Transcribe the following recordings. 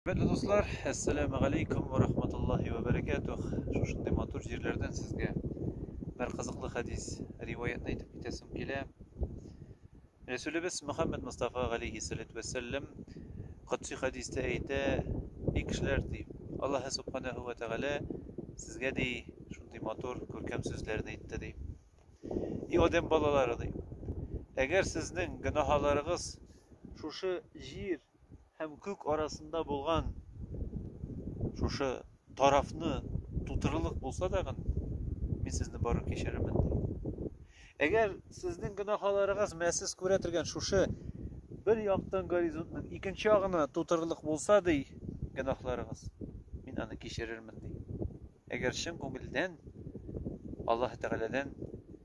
Хөрмәтле дуслар, әссәләмү галәйкүм вә рахматуллаһи вә бәрәкәтүх. Шушындый матур җирләрдән сезгә бер кызыклы хәдис, риваятьне әйтеп китәсем килә. Рәсүлебез Мөхәммәд Мустафа галәйһиссәләтү вәссәләм кодси хәдистә әйтә, Эй кешеләр, ди, Аллаһы субханаһу вә тәгалә сезгә ди шундый матур, күркәм сүзләрне әйтте ди. И адәм балалары ди, әгәр сезнең гөнаһаларыгыз шушы җир һәм күк арасында булган шушы тарафны тутырырлык булса тагын, мин сезне барып кичерермен, ди. Әгәр сезнең гөнаһаларыгыз мәсез күрә торган шушы бер яктан горизонтның икенче ягына тутырырлык булса, ди, гөнаһларыгыз, мин аны кичерермен, ди. Әгәр чын күңелдән Аллаһ Тәгаләдән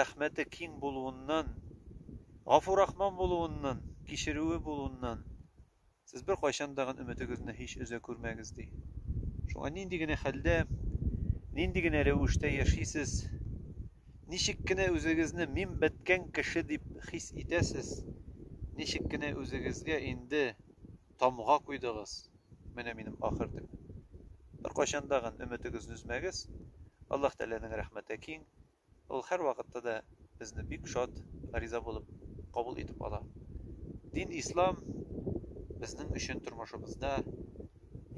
Рәхмәте киң булуыннан, гафу-рахман булуыннан, кичерүе булуыннан, Сез беркайчан да гын өметегезне һич өзә күрмәгез, ди. Шуңа нинди генә хәлдә, нинди генә рәвештә яшисез, ничек кенә үзегезне мин беткән кеше дип хис итәсез, ничек кенә үзегезгә инде тамга куйдыгыз, менә минем ахыр төбем. Беркайчан да гын өметегезне өзмәгез, Аллаһ Тәгаләнең рәхмәте киң, Ул һәрвакытта да безне бик шат, риза булып кабул итеп ала. Дин Ислам безнең өчен тормышыбызда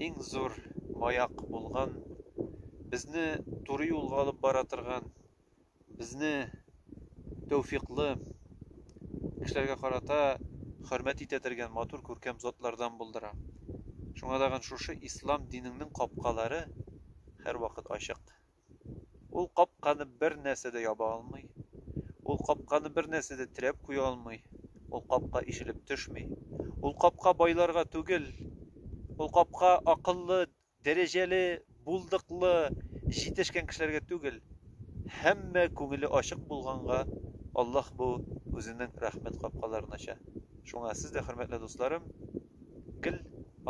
иң зур маяк булган, безне туры юлга алып бара торган, безне тәүфиклы, кешеләргә карата хөрмәт итә тергән матур күркәм затлардан булдыра. Шуңа тагын шушы Ислам динеңнең капкалары һәрвакыт ачык. Ул капканы бер нәрсә дә яба алмый, ул капканы бер нәрсә дә терәп куя алмый, ул капка ишелеп төшми. Ул капка байларга түгел, ул капка акыллы, дәрәҗәле, булдыклы, җитешкән кешеләргә түгел. Һәммә күңеле ачык булганга, Аллаһ бу Үзенең рәхмәт капкаларын ача. Шуңа сез дә, хөрмәтле дусларым, гел.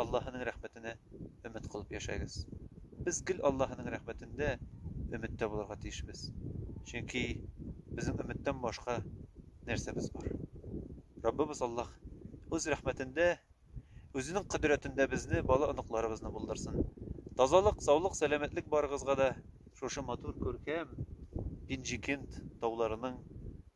Аллаһының рәхмәтенә өмет кылып яшәгез. Без гел Аллаһының рәхмәтендә өметтә булырга тиешбез. Чөнки безнең өметтән башка нәрсәбез бар? Раббыбыз Аллаһ Үз рәхмәтендә, Үзенең кодрәтендә безне, бала-оныкларыбызны булдырсын. Тазалык, саулык, сәламәтлек барыгызга да, шушы матур, күркәм Пенҗикент тауларының